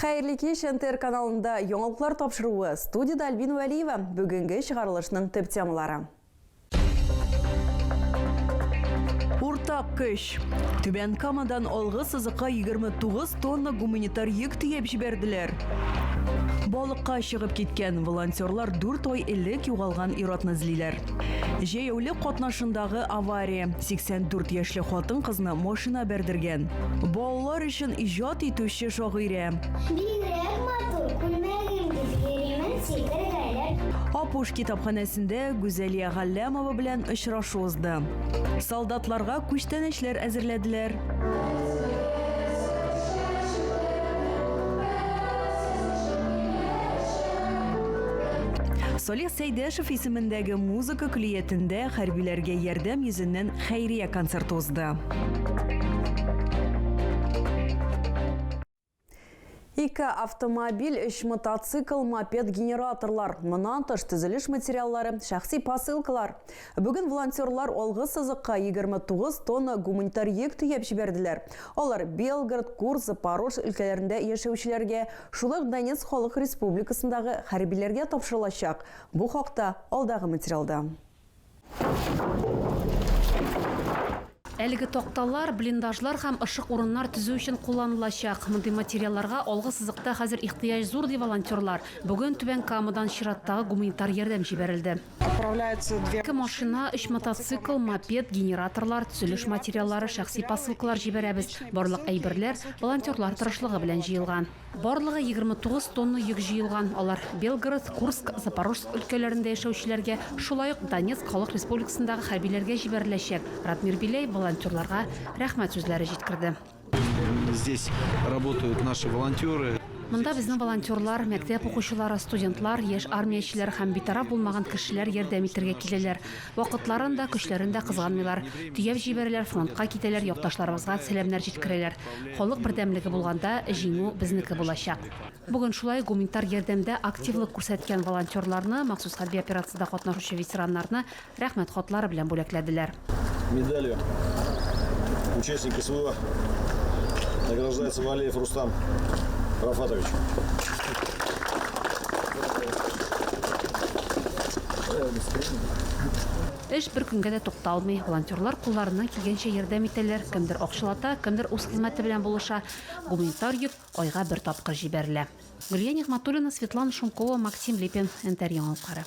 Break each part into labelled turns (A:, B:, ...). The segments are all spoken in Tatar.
A: Хәерле кич, НТР каналында яңалыклар тапшыруы. Студияда Альбин Вәлиева. Бүгенге чыгарылышның төп темалары.
B: Уртак көч. Түбән Камадан алгы сызыкка 29 тонна гуманитар йөк төяп җибәрделәр. Балыкка чыгып киткән волонтерлар 4 ай элек югалган иратны эзлиләр. Җәяүле катнашындагы авария 84 яшьле хатын-кызны машина бәрдергән. Бал Балалар өчен иҗат итүче шагыйрә. Бигрәк матур, күлмәгеңдип йөримен сикергәләп. Апуш китапханәсендә Гүзәлия Галләмова белән очрашу узды. Солдатларга күчтәнәчләр әзерләделәр. Салих Сәйдәшев исемендәге музыка көллиятендә хәрбиләргә ярдәм йөзеннән хәйрия концерты узды.
A: Ике автомобиль, өч мотоцикл, мопед, генераторлар. Монан тыш төзелеш материаллары, шәхси посылкалар. Бүген волонтерлар алгы сызыкка 29 тонна гуманитар йөк төяп җибәрделәр. Алар Белгород, Курс, Запорожск өлкәләрендә яшәүчеләргә, шулай ук Донецк халык республикасындагы хәрбиләргә тапшырылачак. Бу хакта алдагы материалда.
C: Әлеге такталар, блиндажлар һәм ышык урыннар төзү өчен кулланылачак. Мондый материалларга алгы сызыкта хәзер ихтыяҗ зур, ди волонтерлар. Бүген Түбән Камадан чираттагы гуманитар ярдәм җибәрелде. Ике машина, өч мотоцикл, мопед, генераторлар, төзелеш материаллары, шәхси посылкалар җибәрәбез. Барлык әйберләр волонтерлар тырышлыгы белән җыелган. Барлыгы егерме тугыз тонна йөк җыелган, алар Белгород, Курск, Запорожск өлкәләрендә яшәүчеләргә, шулай ук Донецк Халык Республикасындагы хәрбиләргә җибәреләчәк. Радмир Беляев волонтерларга рәхмәт сүзләре җиткерде. Здесь
D: работают наши волонтеры. Монда безнең
C: волонтерлар, мәктәп укучылары, студентлар, яшь армиячеләр һәм битараф булмаган кешеләр ярдәм итәргә киләләр. Вакытларын да, көчләрен дә кызганмыйлар. Төяп җибәрәләр, фронтка китәләр, якташларыбызга сәламнәр җиткерәләр. Халык бердәмлеге булганда, җиңү безнеке булачак. Бүген шулай гуманитар ярдәмдә активлык күрсәткән волонтерларны, махсус хәрби операциядә катнашучы ветераннарны Рәхмәт хатлары белән бүләкләделәр.
E: Медалью участника СВО награждается Валеев Рустам Рафатович.
C: Эш бер көнгә дә тукталмый. Волонтерлар кулларыннан килгәнчә ярдәм итәләр, кемдер акчалата, кемдер үз хезмәте белән булыша. Гуманитар йөк айга бер тапкыр җибәрелә. Гөлия Нигъмәтуллина, Светлана Шумкова, Максим Липин, НТР Яңалыклары.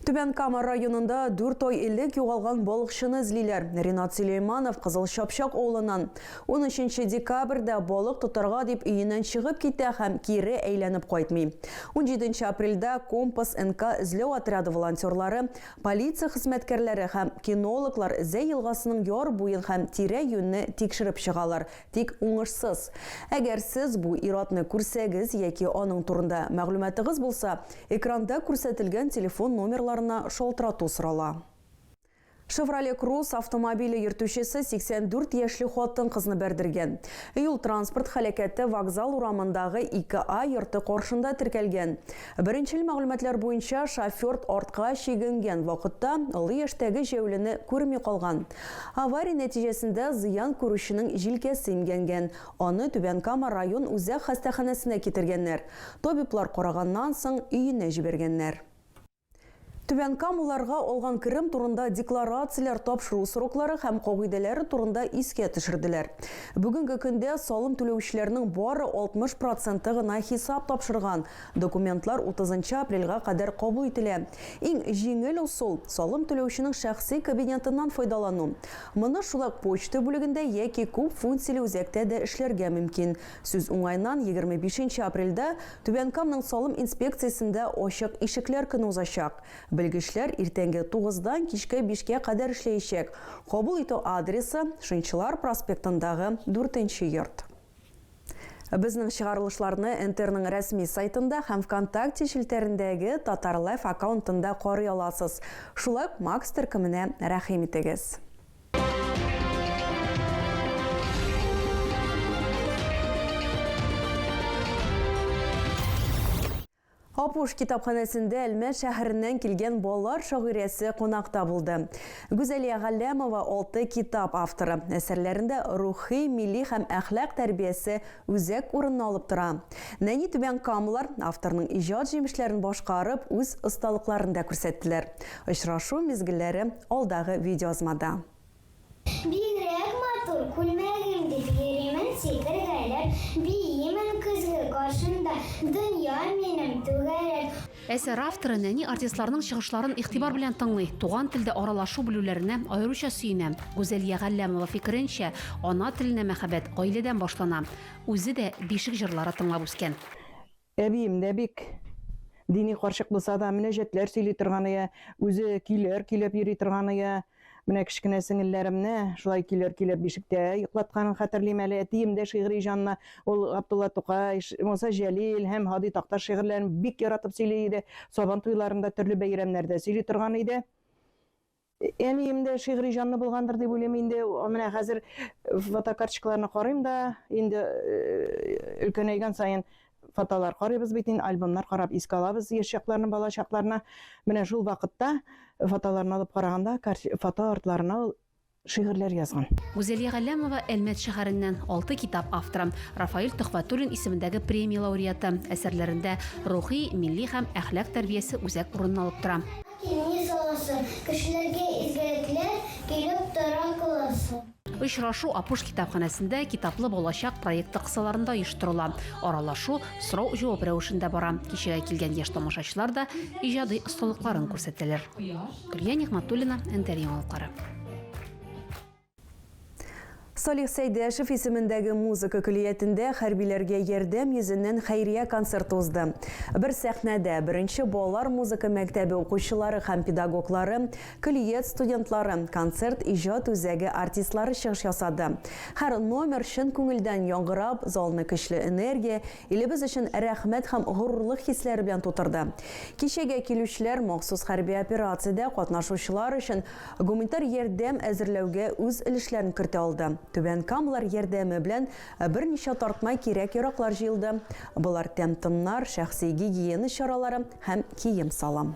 A: Түбән Кама районында дүрт ай элек югалган балыкчыны эзлиләр. Ринат Сөләйманов Кызыл Чапчак авылыннан. Унөченче декабрьдә балык тотарга дип өеннән чыгып китә һәм кире әйләнеп кайтмый. Унҗиденче апрельдә Компас НК эзләү отряды волонтерлары, полиция хезмәткәрләре һәм кинологлар Зәй елгасының яр буен һәм тирә-юньне тикшереп чыгалар Тик уңышсыз. Әгәр сез бу ир-атны күрсәгез яки аның турында мәгълүматыгыз булса, экранда күрсәтелгән телефон номерларына шалтырату сорала. Шевроле Круз автомобиле йөртүчесе 84 яшьле хатын-кызны бәрдергән. Юл-транспорт һәлакәте Вокзал урамындагы 2 А йорты каршында теркәлгән. Беренчел мәгълүматлар буенча, шофёрд артка чигенгән вакытта олы яшьтәге җәяүлене күрми калган. Авария нәтиҗәсендә зыян күрүченең җилкәсе имгәнгән. Аны Түбән Кама район үзәк хастаханәсенә китергәннәр. Табиблар караганнан соң, өенә җибәргәннәр. Түбәнкамаларга алган керем турында декларацияләр тапшыру сроклары һәм кагыйдәләре турында искә төшерделәр. Бүгенге көндә салым түләүчеләрнең бары 60 проценты гына хисап тапшырган, Документлар утызынчы апрельгә кадәр кабул ителә. Иң җиңел ысул, салым түләүченең шәхси кабинетыннан файдалану. Моны шулак почта бүлегендә яки күп функцияле үзәктә дә эшләргә мөмкин. Сүз уңаеннан, егерме бишенче апрельдә Түбән Камның салым инспекциясендә ачык ишекләр көне узачак. Белгечләр иртәнге тугыздан кичке бишкә кадәр эшләячәк. Кабул итү адресы, Шынчылар проспектындагы дүртенче йорт. Безнең чыгарылышларны НТРның рәсми сайтында һәм Вконтакте челтәрендәге Татарлайф аккаунтында карый аласыз. Шулай ук Макс төркеменә рәхим итегез. Апуш китапханәсендә Әлмәт шәһәреннән килгән балалар шагыйрәсе кунакта булды. Гүзәлия Галләмова, алты китап авторы. Әсәрләрендә рухи, милли һәм әхлак тәрбиясе үзәк урынны алып тора. Нәни түбән камалар авторның иҗат җимешләрен башкарып, үз осталыкларын да күрсәттеләр. Очрашу мизгелләре алдагы видеоязмада.
F: Бигрәк матур күлмәгем дип йөримен сикергәләп Биимен көзге каршында Дөнья минем түгәрәк. Әсәр авторы
C: нәни артистларның чыгышларын игътибар белән тыңлый, туган телдә аралашу белүләренә аеруча сөенә. Гүзәлия Галләмова фикеренчә, ана теленә мәхәббәт гаиләдән башлана. Үзе дә бишек җырлары тыңлап үскән. Әбием
G: дә бик дини карчык булса да, мөнәҗәтләр сөйли торган иде, үзе көйләр көйләп йөри торган иде. Менә кечкенә сеңелләремне шулай көйләр көйләп бишектә йоклатканын хәтерлим әле. Әтием дә шигъри җанлы, ул Габдулла Тукай, Муса Җәлил һәм Һади Такташ шигырьләрен бик яратып сөйли иде, Сабан туйларында, төрле бәйрәмнәрдә сөйли торган иде. Әнием дә шигъри җанлы булгандыр дип уйлыйм инде. Менә хәзер фотокарточкаларны карыйм да, инде э, өлкәнәйгән саен фотолар карыйбыз бит инде, альбомнар карап искә алабыз яшь чакларны, бала чакларны. Менә шул вакытта фотоларны алып караганда, фото артларына ул шигырьләр язган. Гүзәлия Галләмова
C: Әлмәт шәһәреннән алты китап авторы, Рафаил Төхфәтуллин исемендәге премия лауреаты. Әсәрләрендә рухи, милли һәм әхлак тәрбиясе үзәк урынын алып тора. Киңәш
F: аласы, кешеләргә изгелекләр килеп тора кыласы. Очрашу Апуш
C: китапханәсендә Китаплы балачак проекты кысаларында оештырыла. Аралашу, сорау-җавап рәвешендә бара. Кичәгә килгән яшь тамашачылар да иҗади осталыкларын күрсәтәләр. Гөлия Нигъмәтуллина, НТР Яңалыклары.
A: Салих Сәйдәшев исемендәге музыка көллиятендә хәрбиләргә ярдәм йөзеннән хәйрия концерты узды. Бер сәхнәдә беренче балалар музыка мәктәбе укучылары һәм педагоглары, көллият студентлары, концерт иҗат үзәге артистлары чыгыш ясады. Һәр номер чын күңелдән яңгырап, залны көчле энергия, Илебез өчен рәхмәт һәм горурлык хисләре белән тутырды. Кичәгә килүчеләр махсус хәрби операциядә катнашучылар өчен гуманитар ярдәм әзерләүгә үз өлешләрен кертә алды. Түбән Камалар ярдәме белән берничә тартма кирәк-яраклар җыелды, болар тәм-томнар, шәхси гигиена чаралары һәм кием-салым.